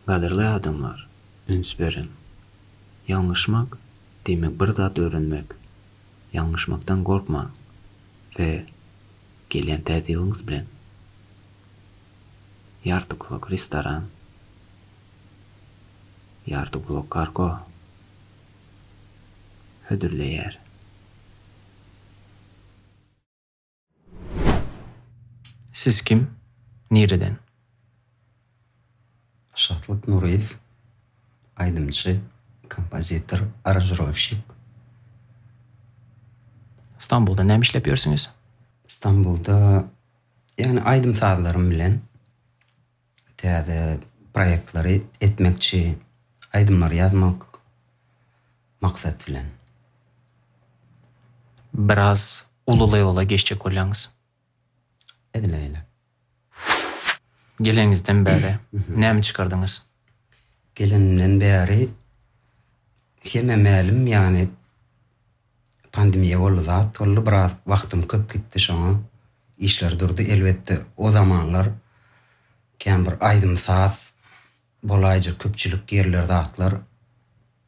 Gadyrly adamlar, üns beriň! Ýalňyşmak, diýmek bir zat öwrenmek. Ýalňyşmakdan gorkmaň we gelýän täze ýylyňyz bilen Ýarty Blok Restoran, Ýarty Blok Kargo hödürleýär. Siz kim? Nireden? Şatlyk Nuryýew, aýdymçy, kompozitor, aranžirowşik. Stambulda näme işläp ýörsüňiz? Stambulda, ýagny aýdym-sazlarym bilen. Täze proýektlary etmekçi, aýdymlar ýazmak maksat bilen. Biraz uly lewola geçjek bolýaňyz. Edil öýle. Geleniňizden bäri näme çykardyňyz? Gelenimden bäri hemmä mälim ýagny. Pandemiýa boldy zat boldy biraz wagtym köp gitdi şoňa işler durdy elbetde o zamanlar kän bir aýdym saz bolaýjak köpçülik ýerler zatlar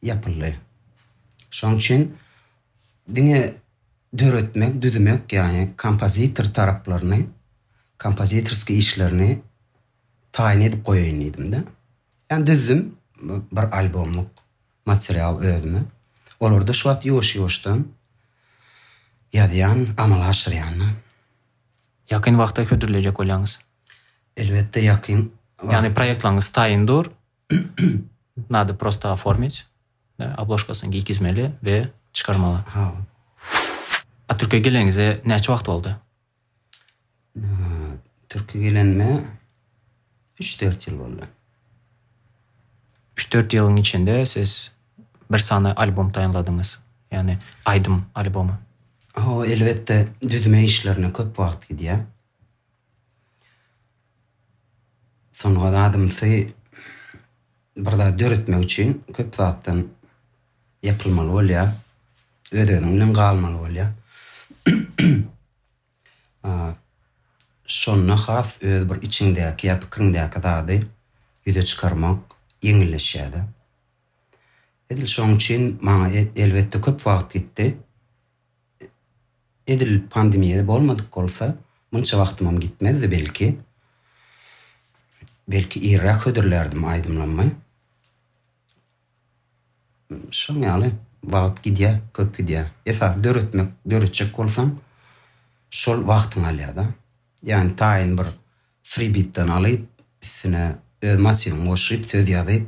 ýapyldy şoň üçin diňe döretmek düzmek ýagny kompozitor taraplaryny kompozitorskiý işlerini taýyn edip goýaýyn diýdimde ýa düzdüm bir albomlyk material özüme. Olarda şu wagt ýuwaş-ýuwaşdan ýazýan, amal aşyrýan-da. Ýakyn wagtda hödürleýjek bolýaňyz? Elbetde ýakyn wagt. Ýagny proýektlaryňyz taýyn dur. Nada prosta oformit. Obložkasyny giygizmeli we çykarmaly. Hawa. A Türkiýä geleniňize näçe wagt boldy? Türki gelenime 3-4 ýyl boldy. 3-4 ýylyň içinde siz bir sany album taýynladyňyz. Ýagny aýdym albomy. Ho, elbetde, düzme işlerine köp wagt gidýär. Sungat adamsy bir zat döretmek üçin köp zatdan ýapylmaly bolýar. Öz-özüň bilen galmaly bolýar. Şonda has öz bir içiňdäki ýa pikiriňdäki zady ýüze çykarmak ýeňilleşýär-de. Edil şoň üçin maňa elbetde köp wagt gitdi. Edil pandemiýa bolmadyk bolsa, munça wagtymam gitmezdi belki. Belki irräk hödürlärdim aýdymlamy. Şoň ýaly, wagt gidýär, köp gidýär. Esasy döretmek, döretjek bolsaň, şol wagtyňy alýar-da. Ýani taýyn bir fribitden alyp üstüne öz motiwiňi goşyp söz ýazyp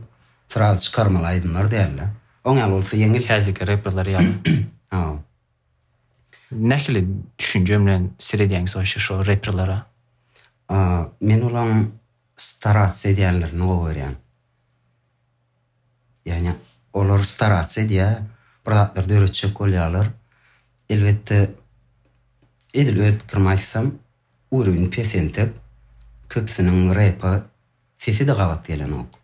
sraz çykarmaly aýdymlar dälde. Oň ýaly bolsa ýeňil. Häzirki reperler ýaly. Hawa. Nähili düşünje bilen seredýäňiz waşe şo reperlere? Men olaň starats edýänlerini gowy görýän. Ýagny olar starats edýär, bir zatlar döretjek bolýarlar. Elbetde, edil öz pikirimi aýtsam, urovni pesentep, köpüsiniň repa sesi-de gabat gelenok.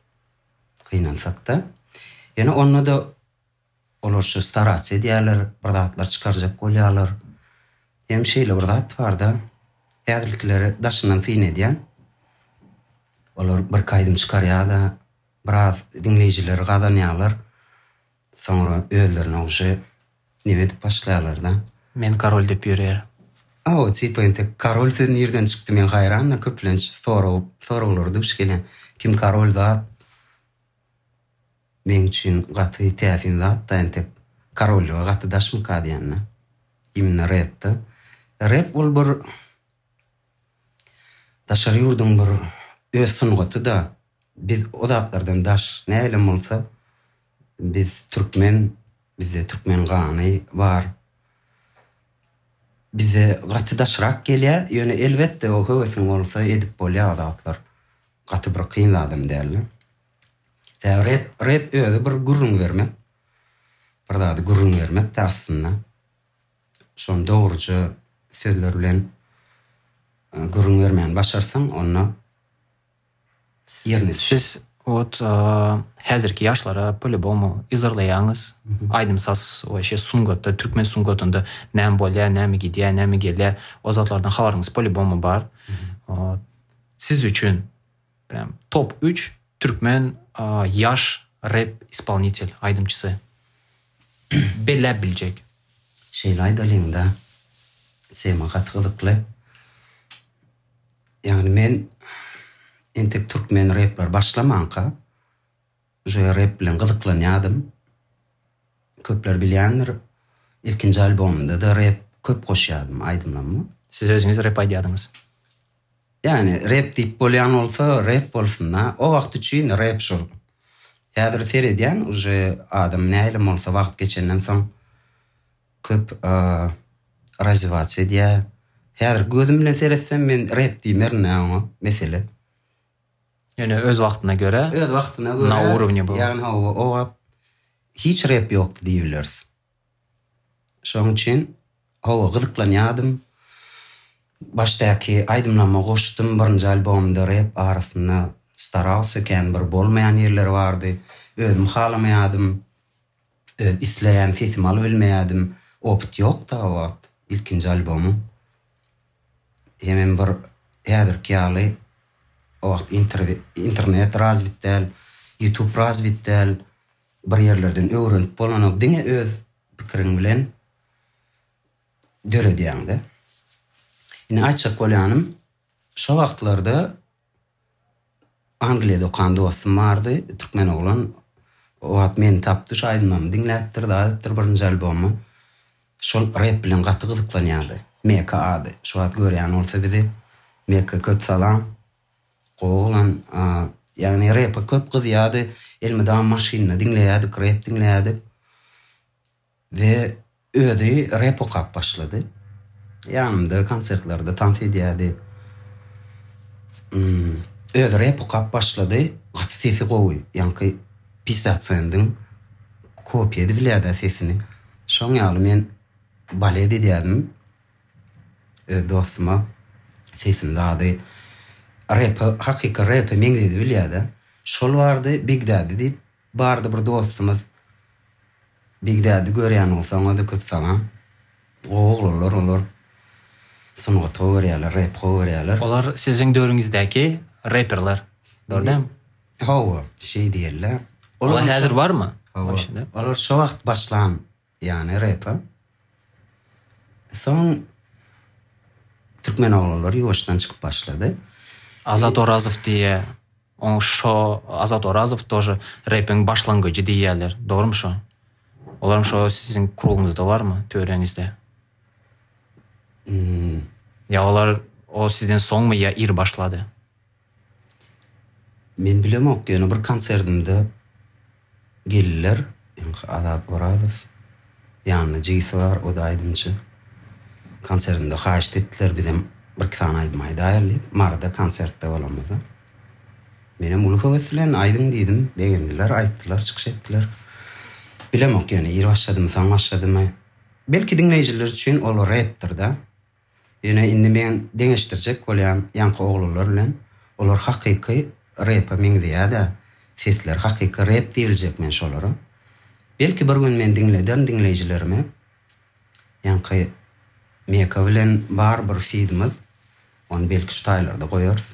Gynansak-da. Ýöne onda-da Olar şu starac edýärler, bir zatlar çykarjak bolýarlar. Hem şeýle bir zat bar-da, häzirkileri daşyndan syn edýän. Olar birki aýdym çykarýar-da, biraz diňleýjileri gazanýarlar. Soňra özlerine uje neme edip başlaýarlar-da. Men korol diýip ýörýär. Hawa, tipa entek korol sözi nirden çykdy, men haýran-da, köplenç sorag, soraglara duş gelýän. Kim korol zat? Meň üçin gaty täsin zatda entek korollyga gaty daşmyka diýanda. Imенно repda. Rep ol bir daşary ýurduň bir öz sungatyda. Biz o zatlardan daş. Nähilem bolsa biz türkmen, bizde türkmen gany bar. Bize gaty daşrak gelýä, ýöne elbetde o höwesiň bolsa edip bolýa o zatlar. Gaty bir kyn adam däldi. Tä rep rep özi bir gürrüň bermek. Bir zady gürrüň bermek tä aslynda. Şony dogruja sözler bilen gürrüň bermäni başarsaň onda ýerine. Siz ot häzirki ýaşlara polýubomu yzarlaýaňyz. Aýdym saz we şe sungatda türkmen sungatynda näme bolýar, näme gidýär, näme gelýär o zatlardan habaryňyz polýubomu bar. Ot. Siz üçin prýam top üç türkmen ýaş rep ispolnitel, aýdymçysy. Belläp biljek. Şeýle aýdalyňda tema gaty gyzykly. Ýagny men entek türkmen repler başlamanka Şeýle rep bilen gyzyklanýardym. Köpler bilýändir, ilkinji albomymda-da rep köp goşýardym aýdymlama. Siz özüňiz rep aýdýardyňyz. Ýani rep diýip bolýan bolsa rep bolsun-da. O wagt üçin rep şol. Häzir seredýän uje adam nähilem bolsa wagt geçenden soň köp razýwatsiýa edýär. Häzirki gözüm bilen seretsem men rep diýmerin-ä oňa, mesele. Ýöne öz wagtyna görä. Öz wagtyna görä. Na urowne bu. Ýagny hawa o wagt hiç rep ýokdy diýibileris. Şoň üçin hawa gyzyklanýadym. Başdaky aýdymlaryma goşdum birinji albomda rep arasynda staralsa kän bir bolmaýan ýerleri bardy. Özüm halamaýadym. Öz isleýän sesimi alybilmeýädim. Opyt ýokdy o wagt. Ilkinji albomym. Hemem bir häzirki ýaly o wagt internet razwit däl, ýutub razwit däl. Bir ýerlerden öwrenip bolanok. Diňe öz pikiriň bilen döredýäň-de. Indi aýtjak bolýanym, şo wagtlarda Angliýada okan dostum bardy, türkmen oglan. O wagt meni tapdy, şu aýdymymy diňläpdir, zat etdir, birinji albomy. Şol rep bilen gaty gyzyklanýardy. Meka ady. Şu wagt görýän bolsa bizi. Meka köp salam. Gowy oglan. Ýagny repe köp gyzýardy. Elmydama maşynda diňleýärdik, rep diňleýärdik. We özi rep okap başlady. Ýanymda konsertlerde tans edýärdi. Özi rep okap başlady. Gaty sesi gowy. Ýaňky Piftat Sendiň kopýa edbilýärdi sesini. Şoň ýaly men balet edýärdim. Öz dostuma sesini dady. Repi hakyky repe meňzedibilýärdi. Şol bardy Big Daddy diýip Bardy bir dostumyz Bigdädi görýäniň soňady köp saňa gowy oglanlar olar sungat gowy görýäler rep gowy görýäler. Olar siziň döwrüňizdäki reperler dol dämi? Hawa şeý diýella. Olar häzir barmy? Hawa. Olar şo wagt başlan Ýany repa. Soň türkmen oglanlary ýuwaşdan çykyp başlady. Azat Orazow diýýä. Oň şo Azat Orazow tože repiň başlangyjy diýýäler. Dogrymy şo? Olaram şo siziň kruguňyzda barmy, töreňizde? Ýa olar o sizden soňmy ýa ir başlady? Men bilemok ýöne bir konserdimde geldiler ýaňky Azat Orazow ýanynda jigisy bar o da aýdymçy konserdimde haýyşt etdiler bizem bir iki sany aýdym aýdaýaly diýip Maryda konsertde bolanymyzda menem uly höwes bilen aýdyň diýdim begendiler aýtdylar çykyş etdiler bilemok ýöne ir başladymy soň başladymy belki diňleýjiler üçin ol repdir da Ýöne indi men deňeşdirjek bolýan ýaňky oglanlar bilen olar hakyky repa meňzeýädä sesleri hakyky rep diýiljek men şolara. Belki bir gün men diňlederin diňleýjilerime ýaňky Meka bilen bar bir fidimiz ony belki şu taýlarda goýarys.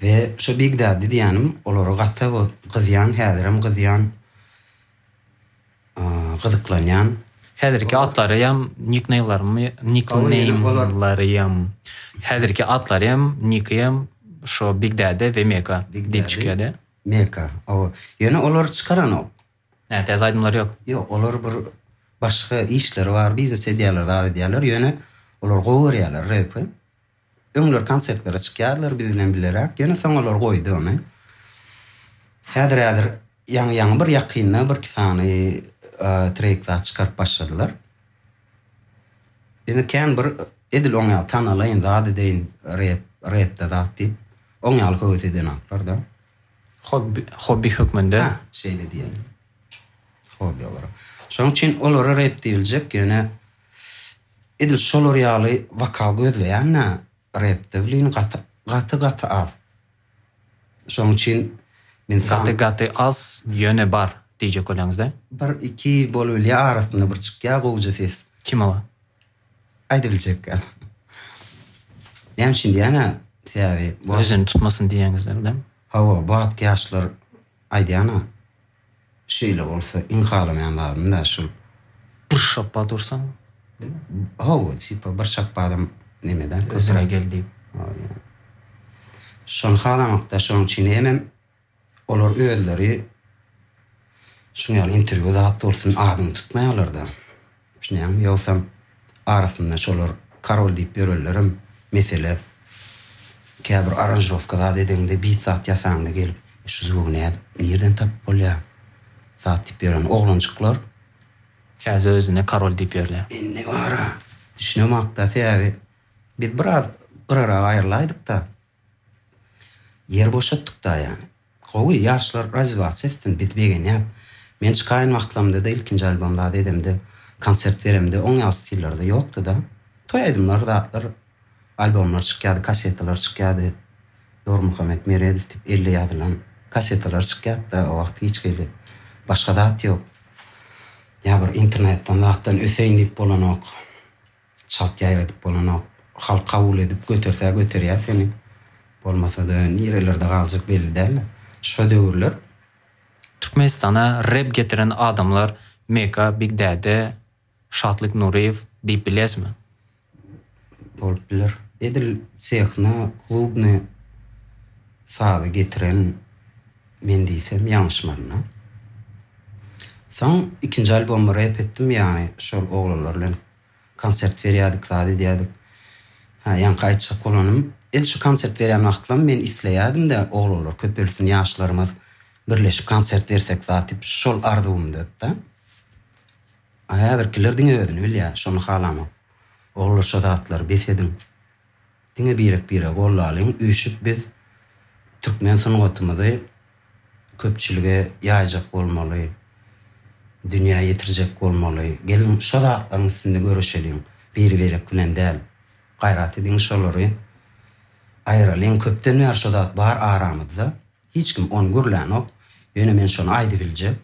We şo Big Daddy diýýänim olara gaty gowy gyzýan häzirem gyzýan gyzyklanýan. Häzirki atlaryam nikneýmlarymy nikneýmlaryam häzirki atlaryam nikiam şo Big Daddy we Meka diýip çykýada. Meka ow ýöne olar çykaranok. Hä täze aýdymlary ýok. Ýok olar bir başga işleri bar biznes edýärler zat edýärler ýöne olar gowy görýärler repi. Öňler konsertlere çykýarlar biz bilen bileräk, ýöne soň olar goýdy ony. Häzir-häzir ýaňy-ýaňy bir ýakynda birki sany treýk zat çykaryp başladylar. Ýöne kän bir edil oň ýaly tanalaýyn zat edeýin, rep, repde zat diýip, oň ýaly höwes edenoklar-da. Hobbi, hobbi hökmünde. Hä, şeýle diýeli. Hobbi olaryň. Şonuň üçin olara rep diýiljek, ýöne Edil şolar ýaly wokal gözleýän-ä repde wlin gaty gaty gaty az. Şoň üçin men saňa. Gaty gaty az ýöne bar diýjek bolýaňyzda? Bir iki bolubilýä arasynda bir çykýa gowja ses. Kim oba? Aýdybiljek ýaly. Näme üçin diýýän-ä sebäbi. Özüni tutmasyn diýýäňizdir dämi? Hawa bu atky ýaşlar Aýdýan-a, şeýle bolsa iň halamaýan zadym-da şul. Bir şapba dursaň, ho-o, tipa bir şapbadam neme-dä, köp. Özüne gel diýip. Hol ýa. Şony halamak-da, şonuň üçin hemem olar özleri şuňaly interwýu zat bolsun adyňy tutmaýarlar-da. Düşünýäňmi? Ýogsam, arasynda şolar korol diýip ýörenlerem mesele. Käbir aranžirowka zat edeňde, bit zat ýasaňda gelip, şu zwygy nädip, nirden tapyp bolýar? Zat diýip ýören oglanjyklar. Käsi özüne korol diýip ýörler. Indi bara düşünemak-da, sebäbi biz biraz gyrara aýrylaýdyk-da. Ýer boşatdyk da ýani. Gowy ýaşlar razivasiýa etsin biz begenýäs. Men çykaýyn wagtlamda-da ilkinji albom zat edemde, konsert beremde oň ýaly stillerde ýokdyda. Toý aýdymlar zatlar albomlar çykýady kasetalar çykýady. Nurmuhammet Meredow dip elle ýazylan kasetalar çykýatda o wagt hiç hili başga zat ýok. Ýa bir internetden zatdan öseýin dip bolanok. Çalt ýaýradyp bolanok. Halk kabul edip göterse göterýär seni. Bolmasa-da nirelerde galjak belli däl-de. Şo döwürler. Türkmenistana rep getiren adamlar Meka, Big Däde, Şatlyk Nuryýew diýip bilýäsmi? Bolup biler. Edil Tehno, klubny sazy getiren men diýsem ýalňyşmaryn-a. Soň ikinji albomy rep etdim, ýagny şol oglanlar bilen. Konsert berýärdik, zat edýärdik. Hä, ýaňky aýtjak bolanym, edil şu konsert berýän wagtlam men isleýärdim-de, oglanlar köpelsin, ýaşlarymyz birleşip konsert bersek zat diýip, şol arzuwymdyda. A häzirkiler diňe özüni bilýär, şony halamok. Oglanlar şo zatlary bes ediň. Diňe birek biregi gollalyň üýşüp biz türkmen sungatymyzy köpçülige ýaýjak bolmaly dünýä ýetirjek bolmaly geliň şo zatlaryň üstünde göreşeliň biri birek bilen däl gaýrat ediň şolary aýralyň köpden bäri şo zat bar aramyzda Hiç kim ony gürlänok. Ýöne men şony aýdybiljek.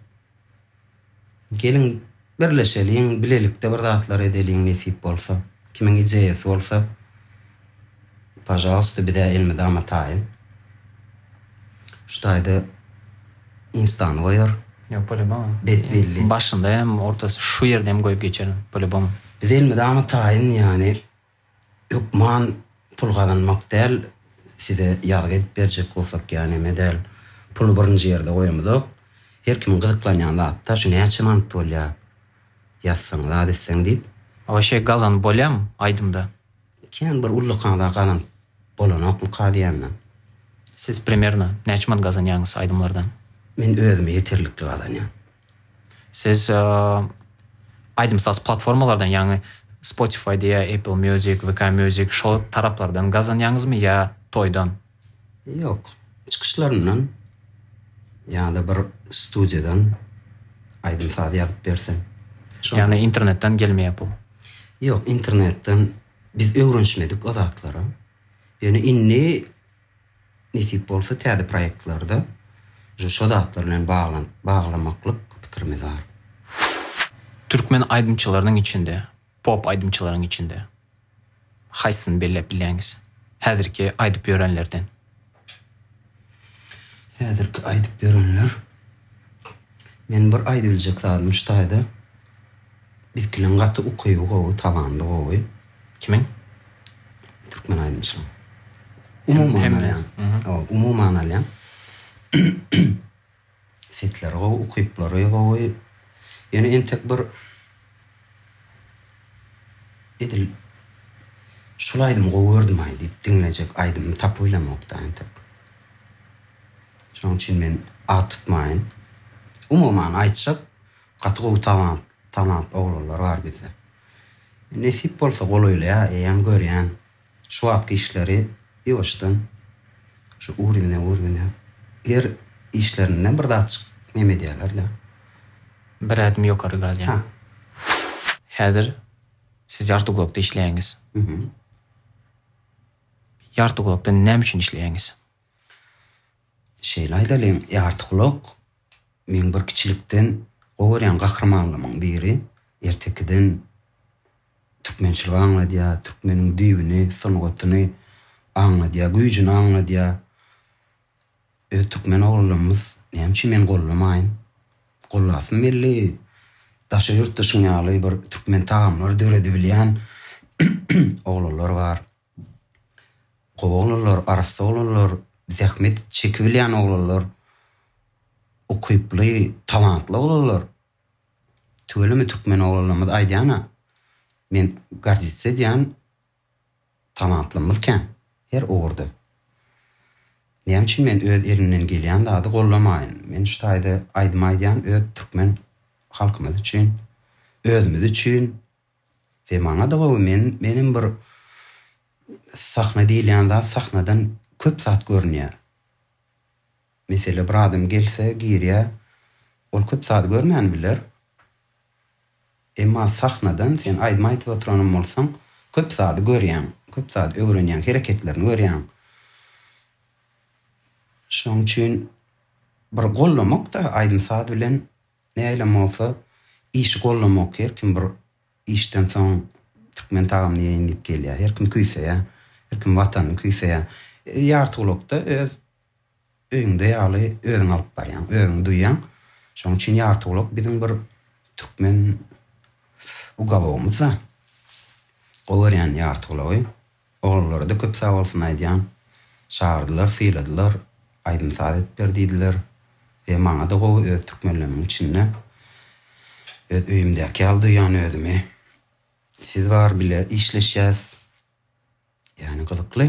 Geliň, birleşeliň, bilelikde bir zatlar edeliň nesip bolsa. Kimiň ideýasy bolsa, pažalsta, biz-ä elmydama taýyn. Şu taýda Instany goýar. Ýok, polýubom. Bet belli. Başynda hem, ortasy, şu ýerde hem goýup geçerin, polýubom. Biz elmydama taýyn, ýagny hökman pul gazanmak däl, size ýazgy edip berjek bolsak ýa neme däl, puly birinji ýerde goýamyzok. Her kimiň gyzyklanýan zady-da şu näçe manat bolýa, ýazsaň, zat etseň diýip. Waşe gazanyp bolýamy aýdymda? Kän bir ullakan-a gazanyp bolanokmyka diýýän men. Siz primerno näçe manat gazanýaňyz aýdymlardan? Men özüme ýeterlikli gazanýan. Siz aýdym-saz platformalardan, ýagny Spotify diýä, Apple Music, VK Music şol taraplardan gazanýaňyzmy ýa toýdan? Ýok. Çykyşlaryndan ýa-da bir studiýadan aýdym-saz ýazyp berse. Ýagny internetden gelmeýär pul? Ýok, internetden biz öwrenişmedik o zatlara. Ýöne indi Nesip bolsa täze proýektlarda şu şo zatlar bilen baglanyp baglamaklyk pikirimiz bar. Türkmen aýdymçylarynyň içinde, pop aýdymçylaryň içinde haýsysyny belläp bilýäňiz? Häzirki aýdyp ýörenlerden. Häzirki aýdyp ýörenler. Men bir aýdybiljek zadym şu taýda. Ilkiliň gaty ukyby gowy talandy gowy. Kimiň? Türkmen aýdymçylaň. Umuman alýan. Umuman alýan. Sesleri gowy ukyplary gowy. Ýöne entek bir edil şul aýdymy gowy gördümaý diýip diňlejek aýdymymy tapyp bilemokda entek. Şoň üçin men at tutmaýyn. Umuman aýtjak Gaty gowy talant talant oglanlar bar bizde nesip bolsa golaýlaýa eýäň görýän şu wagtky işleri ýuwaşdan şu urimne urimne er işlerinden bir zatjyk neme edýälerda. Bir ädim ýokary galýan. Häzir siz ýarty gulakda işleýäňiz. Ýarty gulakda näme üçin işleýäňiz? Şeýle aýdalyň, Ýartygulak meň bir kiçilikden gowy görýän gahrymanlymyň biri. Ertekiden türkmençiligi aňladýar, türkmeniň düýbüni, sungatyny aňladýar, güýjüni aňladýar. Öz türkmen oglanlarymyz, näme üçin men gollamaýyn? Gollasym geldi. Daşary ýurtda şuň ýaly bir türkmen tagamlary döredibilýän oglanlar bar. Gowy oglanlar, arassa oglanlar, zähmet çekibilýän oglanlar, ukyply, talantly oglanlar. Tüweleme türkmen oglanlarymyz aýdýan-a, men gardisdsa edýän talantlymyz kän her ugurda. Näme üçin men öz elimden gelýän zady gollamaýyn? Men şu taýda aýdym aýdýan öz türkmen halkymyz üçin, özümiz üçin. we maňada gowy men menem bir sahna diýilýän zat sahnadan köp zat görünýär mesele bir adam gelse girýä ol köp zady görmän biler emma sahnadan sen aýdym aýdyp oturanam bolsaň köp zady görýäň köp zady öwrenýäň hereketlerini görýäň şoň üçin bir gollamokda aýdym saz bilen Nähilem bolsa, işi gollamok. Her kim bir işden soň türkmen tagamyny iýeýin diýip gelýär. Her kim küýseýär. Her kim Watanyny küýseýär. Ýartygulakda öz öýüňde ýaly özüň alyp barýaň, özüňi duýýaň. Şonuň üçin Ýartygulak biziň bir türkmen ugalogymyz-da. Gowy görýän Ýartygulagy. Oglanlara-da köp sag bolsun aýdýan. Çagyrdylar, syladylar, aýdym-saz edip ber diýdiler. He, maňa-da gowy, öz türkmenlerimiň içinde. Öz öýümdäki ýaly duýýan özümi. Siz bar, bile işleşýäs. Ýagny gyzykly.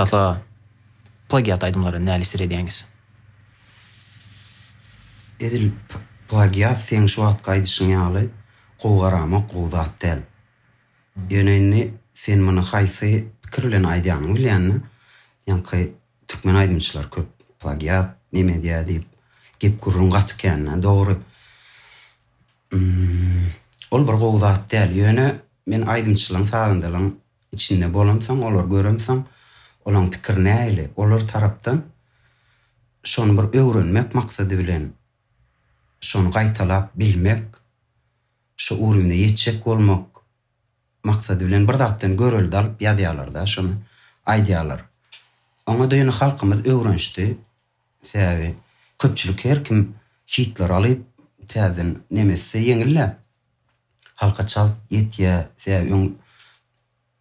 Şahla plagiat aýdymlary näli isir edýäňiz? Edil plagiat seň şu wagtky aýdyşyň ýaly gowy garamok gowy zat däl. Ýöne indi sen muny haýsy pikir bilen aýdýanyňy bilýän-dä. Ýaňky türkmen aýdymçylar köp plagiat, neme edýär diýip gep-gürrüň gaty kän-dä. Dogry. Ol bir gowy zat däl. Ýöne men aýdymçylaryň, sazandalaryň içinde bolamsoň, olary göremsoň, olaryň pikiri nähili, olar tarapdan şony bir öwrenmek maksady bilen şony gaýtalap bilmek, şu urwine ýetjek bolmak maksady bilen bir zatdan görelde alyp ýazýarlar-da şony aýdýarlar. Oňa-da ýöne halkymyz öwrenişdi. Sebäbi köpçülik her kim hitleri alyp täzeden nemes etse ýeňil-dä. Halka çalt ýetýär. Sebäbi öň.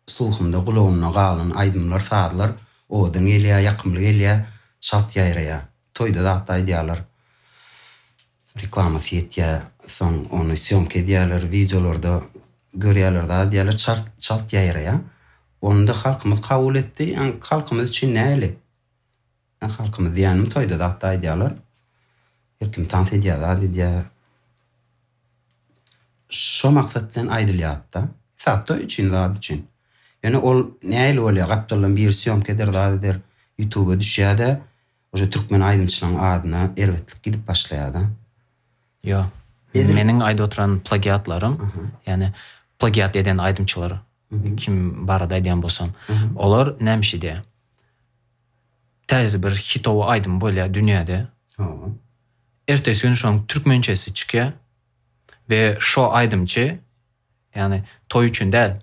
Sluhumda gulagymda galan aýdymlar sazlar owadan gelýä ýakymly gelýä çalt ýaýraýa toýda zatda aýdýalar reklamasy ýetýä soň ony sýomka edýäler wideolarda görýäler zat edýäler çalt çalt ýaýraýa onda halkymyz kabul etdi ýaňy halkymyz üçin näli Ýa halkymyz diýýänim toýda zatda aýdýalar. Her kim tans edýär zat edýär. Şo maksat bilen aýdylýatda. Esasy toý üçin zat üçin. Ýöne ol nähili bolýar gapdaldan biri sýomka eder zat eder. Ýutuba düşýärde ože türkmen aýdymçylaň adyna erbetlik gidip başlaýarda. Ýo. Meniň aýdyp oturan plagiatlarym ýani plagiat eden aýdymçylar kim barada aýdýan bolsam. Olar näme şeýdýär. Täze bir hitowy aýdym bolýar dünýäde. Ertesi gün şoň türkmençesi çykýar. Ve şo aýdymçy yani toy üçin däl.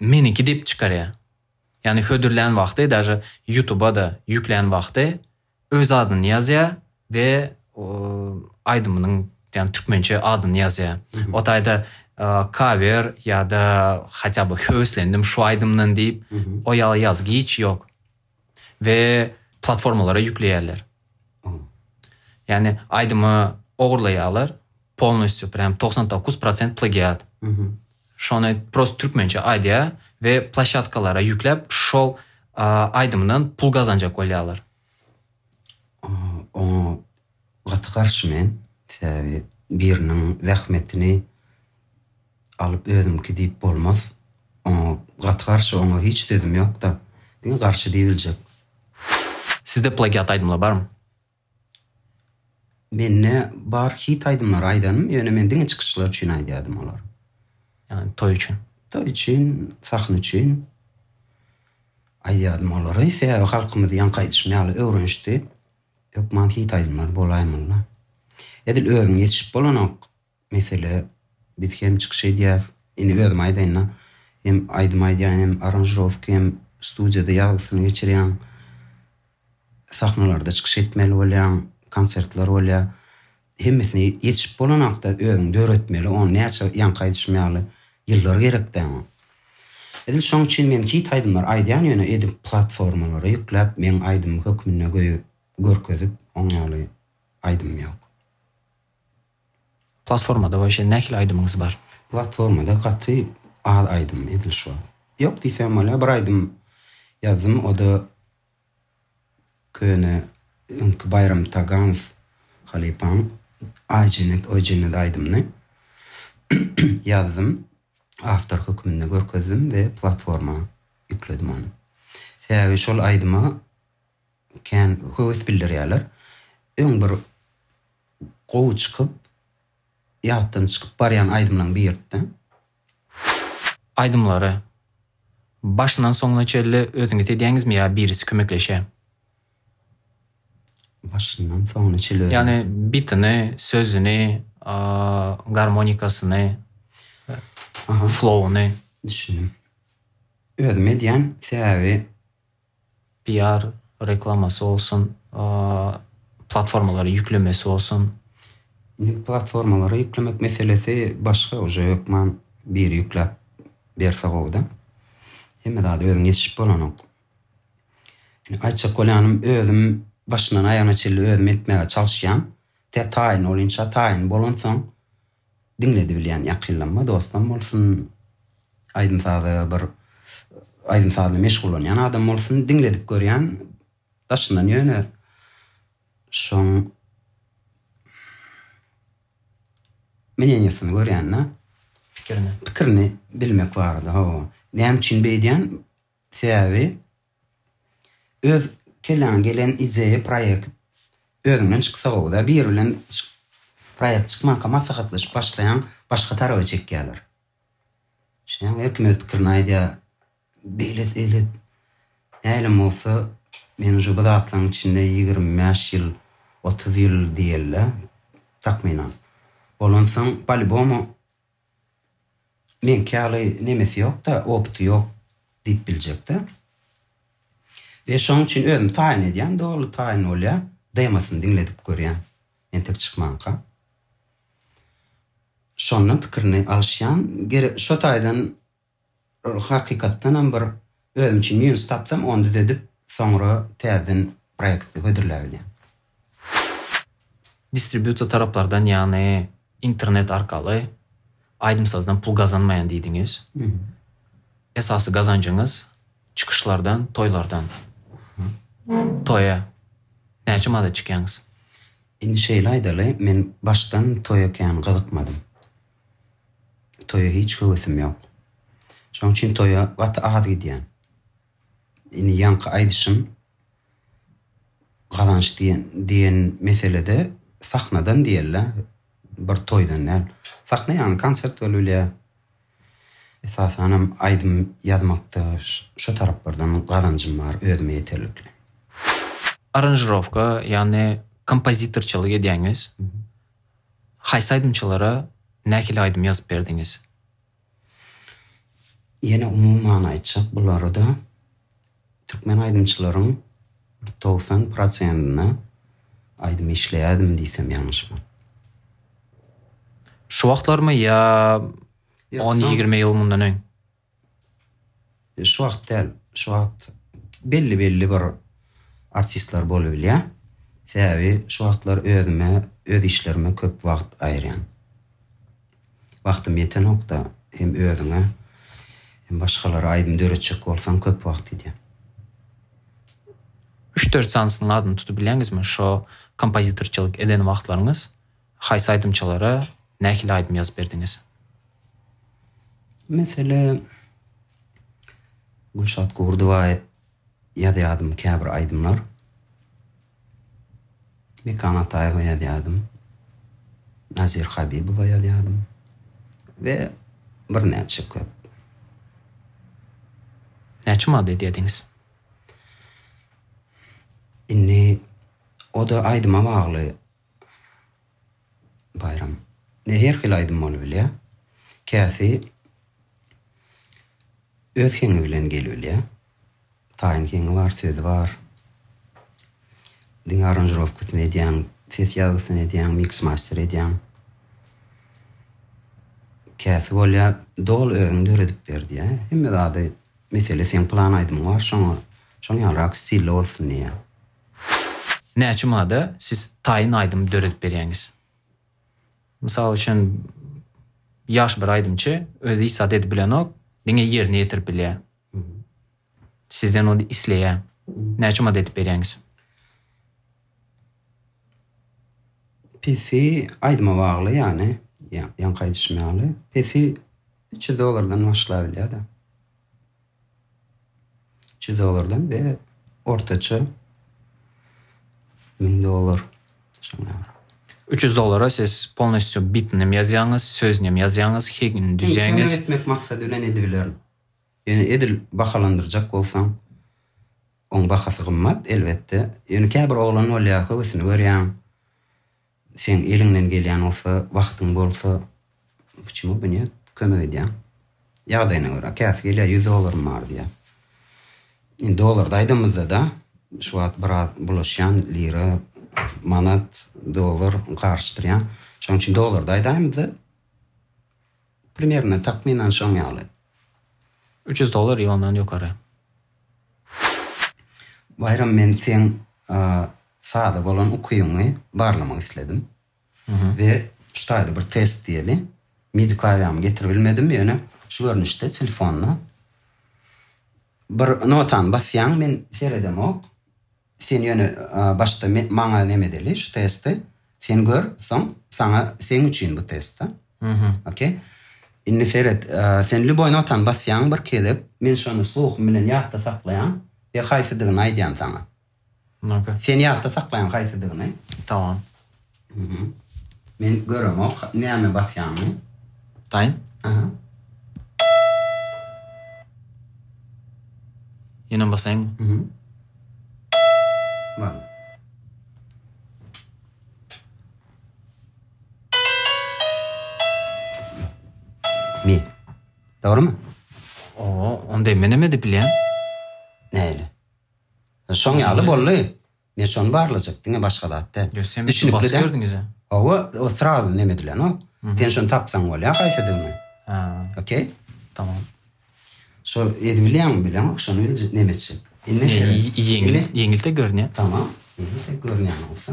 Meniki dep çykarýar. Yani hödürlän wagty daže YouTube'a da yüklän wagty öz adyny ýazýa we aýdymynyň ýani türkmençe adyny ýazýa. O taýda cover ýa-da hatda bu höweslendim şu aýdymdan diýip, o ýa ýazgy hiç ýok. We platformalara ýükleýärler. Ýani aýdymy ogurlaýarlar. Polnostýu prýam togsan dokuz prosent plagiat. Şony prosta türkmençe aýdýa we plaşatkalara ýükläp şol aýdymdan pul gazanjak bolýalar. Oňa gaty garşy men. Sebäbi biriniň zähmetini alyp özüňki diýip bolmaz. Oňa gaty garşy oňa hiç sözüm ýokda. Diňe garşy diýibiljek. Sizde plagiat aýdymlar barmy? Mende bar hit aýdymlary aýdanym, ýöne men diňe çykyşlar üçin aýdýardym olar. Ýagny toý üçin. Toý üçin, sahna üçin aýdýardym olary. Sebäbi halkymyz ýaňky aýdyşym ýaly öwrenişdi. Hökman hit aýdymlar bolaýmaly. Edil özüň ýetişip bolanok. Mesele, biz hem çykyş edýäs, indi özüm aýdaýyn-da, hem aýdym aýdýan, hem aranžirowka, hem studiýada ýazgysyny geçirýän, sahnalarda çykyş etmeli bolýaň, konsertler bolýar. Hemmesine ýetişip bolanakda özüň döretmeli, ony näçe ýaňky aýdyşym ýaly ýyllar gerek-dä oňa. Edil şoň üçin men hit aýdymlar aýdýan ýöne edip platformalara ýükläp meň aýdymym hökmünde göýüp görkezip oň ýaly aýdymym ýok. Platformada waşe nähili aýdymyňyz bar? Platformada gaty az aýdym edil şu wagt. Ýok diýsem bolýar bir aýdym ýazdym oda köne öňki Baýram Taganow halypaň Aý jennet oý jennet aýdymyny ýazdym awtor hökmünde görkezdim we platforma ýükledim ony. Sebäbi şol aýdyma kän höwes bildirýärler. Öň bir gowy çykyp, ýatdan çykyp barýan aýdymlaň birtde. Aýdymlary başyndan soňuna çenli özüňiz edýäňizmi ýa birisi kömekleşýä? Başyndan soňuna çenli özüm. Ýagny bitini, sözüni, garmonikasyny, flowuny. Düşündim. Özüm edýän, sebäbi PR, reklamasy bolsun, platformalary ýüklemesi bolsun. Indi platformalary ýüklemek meselesi başga uje hökman biri ýükläp berse gowuda. Hemme zady özüň ýetişip bolanok. Indi aýtjak bolýanym özüm başyndan aýagyna çenli özüm etmäge çalyşýan. Tä taýyn bolynça taýyn bolansoň Diňledibilýän ýakynlanma dostam bolsun, aýdym saza bir aýdym sazla meşgullanýan adam bolsun diňledip görýän daşyndan ýöne şoň mneniýasyny görýända pikirini pikirini bilmek barada hawa näme üçin beýdýän sebäbi Öz kelläňe gelen ideýa proýekt özüňden çyksagowda biri bilen proýekt çykmanka maslahatlaşyp başlaýaň başga taraba çekýäler. Şeýdäň her kim öz pikirini aýdýa beýlet eýlet näilem bolsa men uje bu zatlaryň içinde ýigrimi bäş ýyl otuz ýyl diýeli takmynan. Bolansoň palibomu Meňki ýaly nemesi ýok-da, opty ýok diýip biljek-dä. We şonuň üçin özüm taýyn edýän, doly taýyn bolýan, demosyny diňledip görýän, entek çykmanka. Şondan pikirini alyşýan, gerek şo taýdan. Hakykatdanam bir özüm üçin minus tapsam ony düzedip soňra täzeden proekti hödürläbilýän. Distributor taraplardan ýagny internet arkaly aýdym sazdan pul gazanmaýan diýdiňiz. Esasy gazanjyňyz çykyşlardan, toýlardan. Toýa näçe manada çykýaňyz? Indi şeýle aýdaly men başdan toýa kän gyzykmadym. Toýa hiç höwesim ýok. Şoň üçin toýa gaty az gidýän. Indi ýaňky aýdyşym gazanç diýen diýen meselede sahnadan diýeli, bir toýdan däl. Sahna ýagny konsert bolup bilýär. Esasan hem aýdym ýazmakda şu taraplardan gazanjym bar, özüme ýeterlikli. Aranžirowka, ýagny kompozitorçylyk edýäňiz. Haýsy aýdymçylara nähili aýdym ýazyp berdiňiz? Ýene umuman aýtjak bolarda, türkmen aýdymçylaryň bir togsan prosentine aýdym işleýärdim diýsem ýalňyşman. Şu wagtlarmy ýa on-ýigrimi ýyl mundan öň? Şu wagt däl, şu wagt belli-belli bir artistler bolubilýär. Sebäbi şu wagtlar özüme, öz işlerime köp wagt aýyrýan. Wagtym ýetenokda hem özüňe, hem başgalara aýdym döretjek bolsaň köp wagt gidýär. Üç-dört sansynyň adyny tutubilýäňizmi şo kompozitorçylyk eden wagtlaryňyz? Haýsy aýdymçylara nähili aýdym ýazyp berdiňiz? Mesele, Gülşat Gurdowa ýazýardym käbir aýdymlar. Mekan Ataýewa ýazýardym. Nazir Habibowa ýazýardym we birnäçe köp. Näçe manat edýärdiňiz? Indi o-da aýdyma bagly. Baýram. Ne her hili aýdym bolubilýä. Käsi öz heňi bilen gelibilýä. Taýyn heňi bar, sözi bar. Diňe aranžirowkasyny edýäň, ses ýazgysyny edýäň, miks master edýäň. Käsi bolýa doly özüň döredip ber diýä. Hemme zady mesele seň plan aýdymyň bar şoňa şoň ýalyrak stilli bolsun diýä. Näçe mada siz taýyn aýdym döredip berýäňiz? Mysal üçin ýagşy bir aýdymçy özi hiç zat edip bilenok, diňe ýerine ýetirip bilýär. Sizden ony isleýär. Näçe mada edip berýäňiz? Pesi aýdyma bagly ýany ýaňky aýdyşym ýaly. Pesi üç ýüz dollardan başlabilýär-de. Çyzyklardan we ortaça müň dollar. Şonda. 300 dollara siz polnostýu bitinem ýazýaňyz, sözünem ýazýaňyz, hegini düzýäňiz. Kömek etmek maksady bilen edibilerin. Ýöne edil bahalandyrjak bolsaň, oň bahasy gymmat, elbetde. Ýöne käbir oglan bolýar, höwesini görýäň. Seň eliňden gelýän bolsa, wagtyň bolsa, puçimo bu ne, kömek edýäň. Ýagdaýyna görä, käsi gelýär, ýüz dollarym bar diýýär. Indi dollarda aýdamyzda-da, şu wagt biraz bulaşýan, lira, manat, dollar garyşdyrýan. Şonuň üçin dollarda aýdaýmyzda, primerno, takmynan şoň ýaly. Üç ýüz dollar ýa ondan ýokary. Baýram, men seň Sada bolan ukyňy barlamak isledim. We şu taýda bir test diýeli. Midi klawiýamy getirip bilmedim, ýöne şu görnüşde telefonda bir notany basýaň, men seredemok. Sen ýöne başda maňa neme edeli, şu testi sen gör, soň saňa seň üçin bu test da. Okey. Indi seret, sen lýuboý notany basýaň bir gezek, men şony sluhym bilen ýatda saklaýan we haýsydygyny aýdýan saňa. Sen ýatda saklaýaň haýsydygyny. Tamam. Mhm. Men göremok näme basýanyny. Taýyn. Aha. Ýenem basaýynmy? Mhm. Bar. Mi. Dogrymy? Oo, onda menem edip bilýän. Näle? Şoň ýaly boldy. Men şony barlajak, diňe başga zat däl. Ýöne sen bizi basyp ýördiňiz-ä. Hawa, o srazy neme edilenok. Sen şony tapsaň bolýar haýsydygyny. Hä. Okey? Tamam. Şo edip bilýäňmi, bileňok, şony biljek, neme etjek. Indi şeýle. Ýeňil, ýeňil-de görünýär. Tamam, ýeňil-de görünýän bolsa.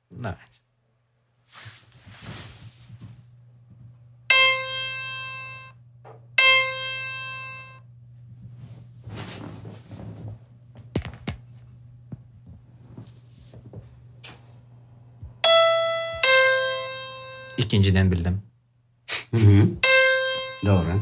Nice. İkinciden bildim. Doğru.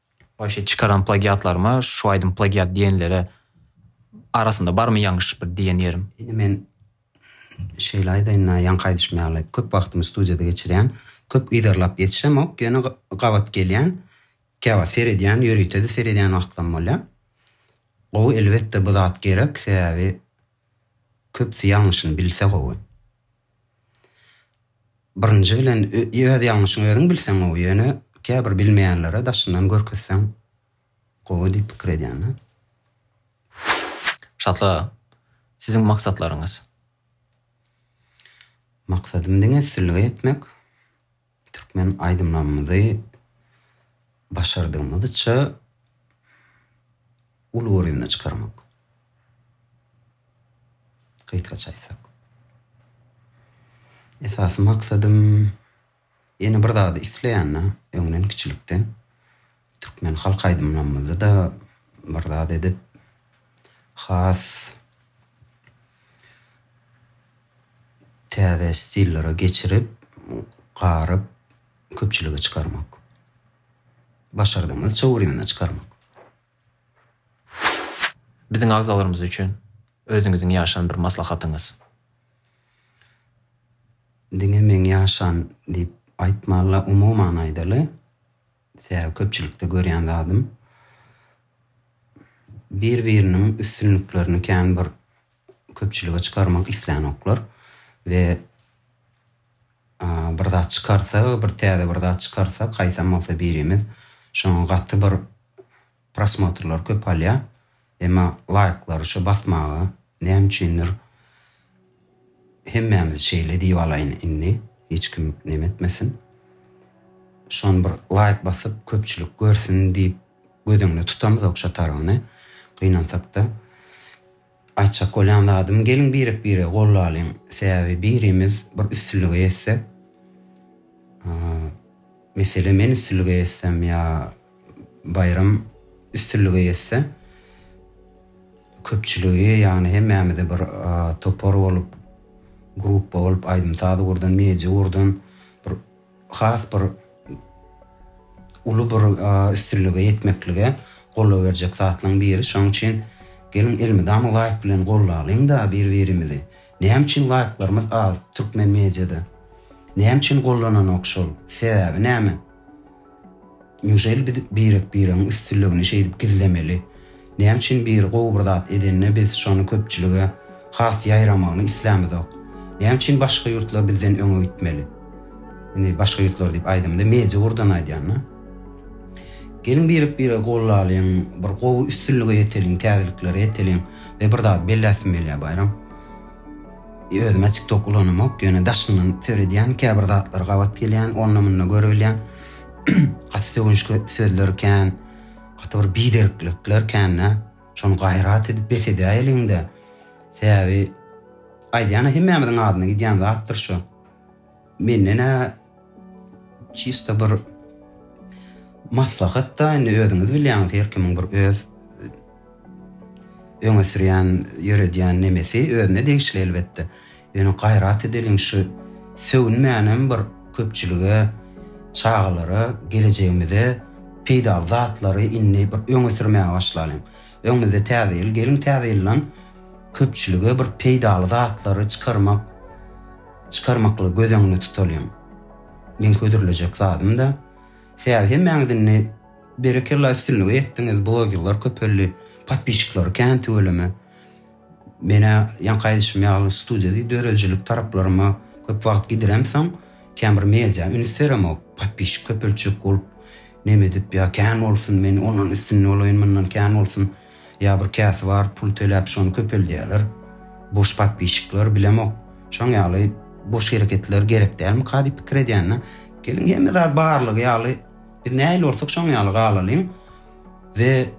Başy çykaran plagiatlaryma şu aýdym plagiat diýenlere arasynda barmy ýaňyş bir diýen ýerim? Indi men şeýle aýdaýyn-da, ýaňky aýdyşym ýaly, köp wagtymy studiýada geçirýän, köp yzarlap ýetişemok, ýöne gabat gelýän, käwagt seredýän, ýörite-de seredýän wagtlaym bolýar. Gowy, elbetde, bu zat gerek, sebäbi köpüsi ýalňyşyny bilse gowy. Birinji bilen öz ýalňyşyňy özüň bilseň gowy, ýöne käbir bilmeýänlere daşyndan görkezseň gowy diýip pikir edýända. Şatlyk aga, siziň maksatlaryňyz? Maksadym diňe üstünlige ýetmek. Türkmen aýdymlarymyzy başardygymyzça uly görýümde çykarmak. Gysgaça aýtsak. Esasy maksadym ýene bir zady isleýän-de, öňden kiçilikden. Türkmen halk aýdymlarymyzda-da bir zat edip, has täze stillere geçirip, garyp, köpçülige çykarmak. Başardygyňyzça ugruna çykarmak. Biziň agzalarymyz üçin özüňiziň ýaşan bir maslahatyňyz? Diňe meň ýaşan diýip aýtmala, umuman aýdaly, Tä köpçülikde görýän zadym. Bir biriniň üstünliklerini kän bir köpçülige çykarmak islänoklar we bir zat çykarsa bir täze bir zat çykarsa kaýsam bolsa birimiz şoňa gaty bir Prosmotrlar köp alýa emma laýklary şo basmaga näme üçindir hemmämiz şeýle diýip alaýyn indi hiç kim neme etmesin şony bir laýk basyp köpçülik görsün diýip göz öňünde tutamyzok şo tarabyny gynansakda Aýtjak bolýan zadym geliň birek biregi gollalyň sebäbi birimiz bir üstünlige ýetsek mesele men üstünlige ýetsem ýa Baýram üstünlige ýetse köpçüligi ýagny hemmämizi bir topar bolup gruppa bolup aýdym saz ugurdan media ugurdan bir has bir uly bir üstünlige ýetmeklige goldaw berjek zatlaryň biri. Şonuň üçin geliň elmydama laýk bilen gollalyň-da bir-birimizi. Näme üçin laýklarymyz az türkmen mediada? Näme üçin gollananok şol? Sebäbi näme? Njeýli biz birek-biregiň üstünligini şeýdip gizlemeli? Näme üçin biri gowy bir zat edende biz şony köpçülige has ýaýramagyny islämizok? Näme üçin başga ýurtlar bizden öňe gitmeli? Indi başga ýurtlar diýip aýdamda meje gurdan aýdýan-da. Geliň birek-biregi gollalyň, bir gowy üstünlige ýeteliň, täzeliklere ýeteliň we bir zat belläsim gelýär Baýram. Özüm-ä TikTok ulanamok, ýöne daşyndan seredýän, käbir zatlar gabat gelýän, onda-munda görebilýän. gaty sögünçli sözler kän, gaty bir biderklikler kände. Şony gaýrat edip bes edäýeliň-de. Sebäbi aýdýan hemmämiziň adyna gidýän zatdyr şu. Menden-ä çista bir maslahat-da, indi özüňiz bilýäňiz, her kimiň bir öz öňe sürýän, ýöredýän nemesi özüne degişli elbetde. Ýöne gaýrat edeliň şu sögünmänem bir köpçülige, çagalara gelejegimize peýdaly zatlary indi bir öňe sürmäge başlalyň. Öňümizde täze ýyl, geliň täze ýyldan köpçülige bir peýdaly zatlary çykarmak, çykarmaklygy göz öňünde tutalyň. Meň hödürlejek zadym-da täze hemmäňiz indi berekella üstünlige ýetdiňiz, blogerler köpeldi, podpişikleri kän tüweleme. Men-ä ýaňky aýdyşym ýaly studiýada döredijilik taraplaryma köp wagt gidiremsoň, kän bir media üns beremok. Podpisçik köpeltjek bolup, neme edip, ýa kän bolsun, men ondan üstün bolaýyn, mundan kän bolsun, ýa bir käsi bar, pul töläp şony köpeldýärler. Boş podpisçikler, bilemok. Şoň ýaly boş hereketler gerek dälmika diýip pikir edýän-de. Geliň hemme zat barlygy ýaly, biz nähili bolsak şoň ýaly galalyň. we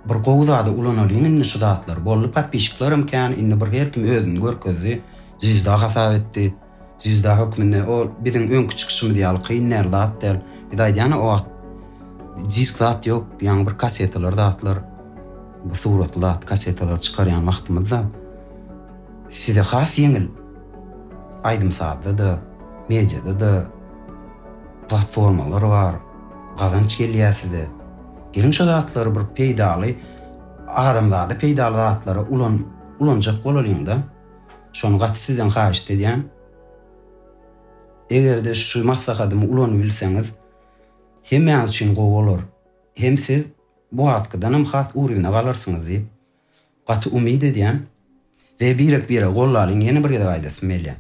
bir gowy zada ulanalyň indi şu zatlar boldy podpişiklerim kän indi bir her kim özüni görkezdi zwizda hasap etdi zwizda hökmünde o biziň öňki çykyşymyz ýaly kyn däl zat däl biz aýdýan o wagt disk zat ýok ýaňy bir kassetalar zatlar bu suratly zat kassetalar çykarýan wagtymyzda size has ýeňil aýdym sazda da mediada da Platformalar bar, gazanç gelýär size. Geliň şo zatlary bir peýdaly, adamzada peýdaly zatlara ulanjak bolalyň-da. Şony gaty sizden haýyşt edýän. Eger-de şu maslahatymy ulanybilseňiz, hemmäňiz üçin gowy bolar. Hem siz bu wagtkydanam has uryna galarsyňyz diýip, Gaty umyt edýän we birek bire gollalyň ýene bir gezek aýdasym gelýär.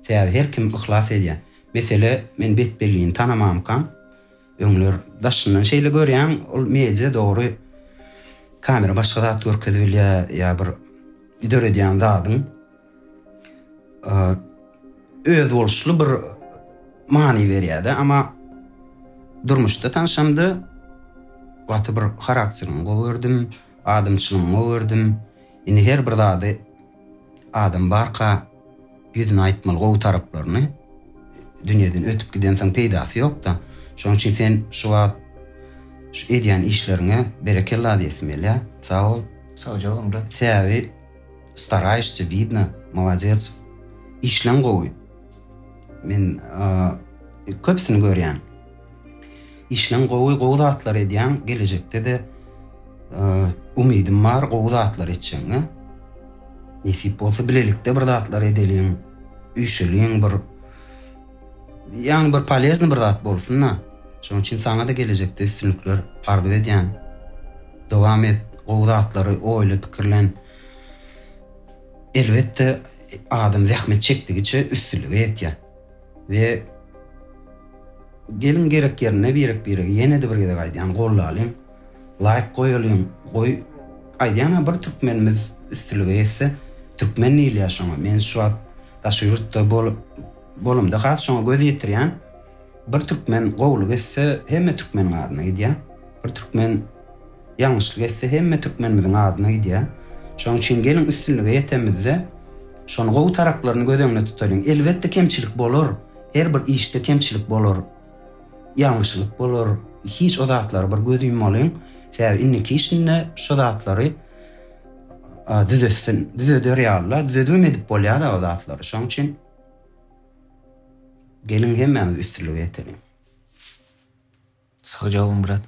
Sebäbi her kim yhlas edýä. Mesele men betbellini tanamamykam. Öňler daşyndan şeýle görýäň ol media dogry kamera başga zat görkezibilýä ýa bir döredýän zadyň. özboluşly bir many berýärdi. Ama durmuşda tanşamda gaty bir harakterini gowy gördüm, adamçylygyny gowy gördüm. Indi her bir zady adam barka ýüzüne aýtmaly gowy taraplaryny. Dünýeden ötüp gidensoň peýdasy ýok-da. Şonuň üçin sen şu wagt şu edýän işleriňe berekella diýesim gelýär. Sag bol. Sagja bol Murad. Sebäbi Staraýşsy widno malades işleň gowy men köpüsini görýän işleň gowy gowy zatlar edýäň gelejekde-de umydym bar gowy zatlar etjegiňe nesip bolsa bilelikde bir zatlar edeliň üýşeliň bir Ýaňy bir polezny bir zat bolsunda. Şonuň üçin saňada gelejekde üstünlikler arzuw edýän. Dowam et, gowy zatlary oýla, pikirlen. Elbetde adam zähmet çekdigiçe üstünlige ýetýär. We geliň gerek ýerinde birek-biregi ýene-de bir gezek aýdýan gollalyň, laýk goýalyň, goý aýdýan-a bir türkmenimiz üstünlige ýetse, türkmen diýilýär şoňa. Men şu wagt daşy ýurtda bolup Bolumda has şoňa göz ýetirýän. Bir türkmen gowulyk etse hemme türkmeniň adyna gidýä. Bir türkmen ýalňyşlyk etse hemme türkmenimiziň adyna gidýä. Şoň üçin geliň üstünlige ýetemizde şony gowy taraplaryny göz öňüne tutalyň. Elbetde kemçilik bolar. Her bir işde kemçilik bolar. Ýalňyşlyk bolar. Hiç o zatlara bir göz ýummalyň. Sebäbi indiki işinde şo zatlary düzetsin. Düzeder ýaly-la. Düzedibem edip bolýa-da o zatlary. Şoň üçin. Geliň hemmämiz üstünlige ýeteliň. Sagja boluň brat.